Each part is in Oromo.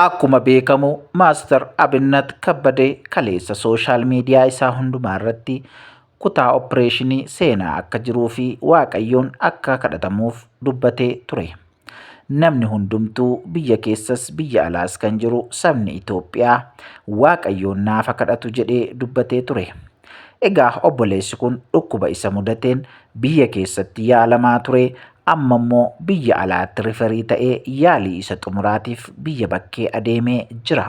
Akkuma beekamu Maastar Abinnat Kabbadee kaleessa sooshaal miidiyaa isaa hundumaa irratti kutaa oppireeshinii seenaa akka jiruu fi Waaqayyoon akka kadhatamuuf dubbatee ture. Namni hundumtuu biyya keessas biyya alaas kan jiru sabni Itoophiyaa Waaqayyoon naafa kadhatu jedhee dubbatee ture. Egaa obboleessi kun dhukkuba isa mudateen biyya keessatti yaalamaa ture amma immoo biyya alaatti riferii ta'ee yaalii isa xumuraatiif biyya bakkee adeemee jira.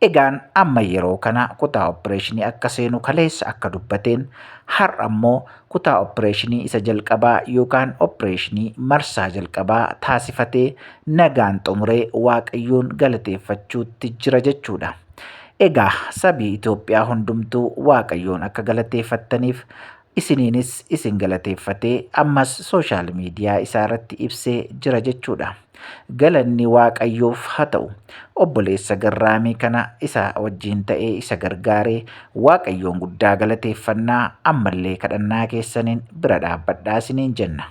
Egaan amma yeroo kana kutaa oppireeshinii akka seenu kaleessa akka dubbateen har'a immoo kutaa oppireeshinii isa jalqabaa yookaan oppireeshinii marsaa jalqabaa taasifatee nagaan xumuree waaqayyoon galateeffachuutti jira jechuudha. Egaa sabii Itoophiyaa hundumtuu Waaqayyoon akka galateeffattaniif isiniinis isin galateeffatee ammas sooshaal miidiyaa isaa irratti ibsee jira jechuudha. Galanni Waaqayyoof haa ta'u. Obboleessa garraamii kana isa wajjin ta'ee isa gargaaree Waaqayyoon guddaa galateeffannaa ammallee kadhannaa keessaniin bira dhaabbadhaa isiniin jenna.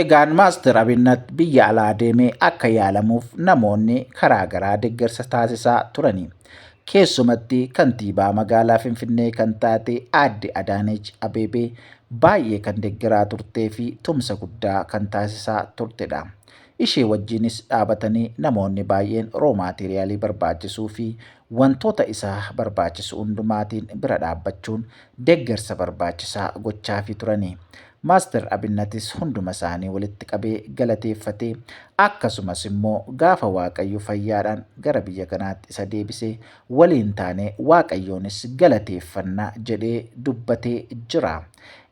Egaan Maastar Abinnat biyya alaa deemee akka yaalamuuf namoonni karaa garaa deeggarsa taasisaa turani. Keessumatti kantiibaa magaalaa Finfinnee kan taate aadde Adaanech Abeebee baay'ee kan deeggaraa turtee fi tumsa guddaa kan taasisaa turtedha. Ishee wajjinis dhaabatanii namoonni baay'een roomaateeriyaalii barbaachisuu fi wantoota isaa barbaachisu hundumaatiin bira dhaabbachuun deeggarsa barbaachisaa gochaafii turani. Master Abinnatis hunduma isaanii walitti qabee galateeffatee akkasumas immoo gaafa Waaqayyo fayyaadhaan gara biyya kanaatti isa deebisee waliin taanee Waaqayyoonis galateeffanna jedhee dubbatee jira.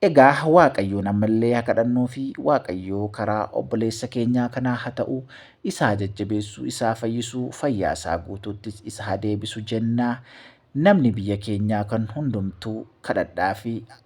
Egaa Waaqayyoon ammallee haa kadhannuu fi Waaqayyoo karaa obboleessa keenyaa kanaa haa ta'u, isa haa jajjabeessu, isa haa fayyisu, fayyaa isaa guutuuttis isa haa deebisu jenna. Namni biyya keenyaa kan hundumtuu kadhadhaa fi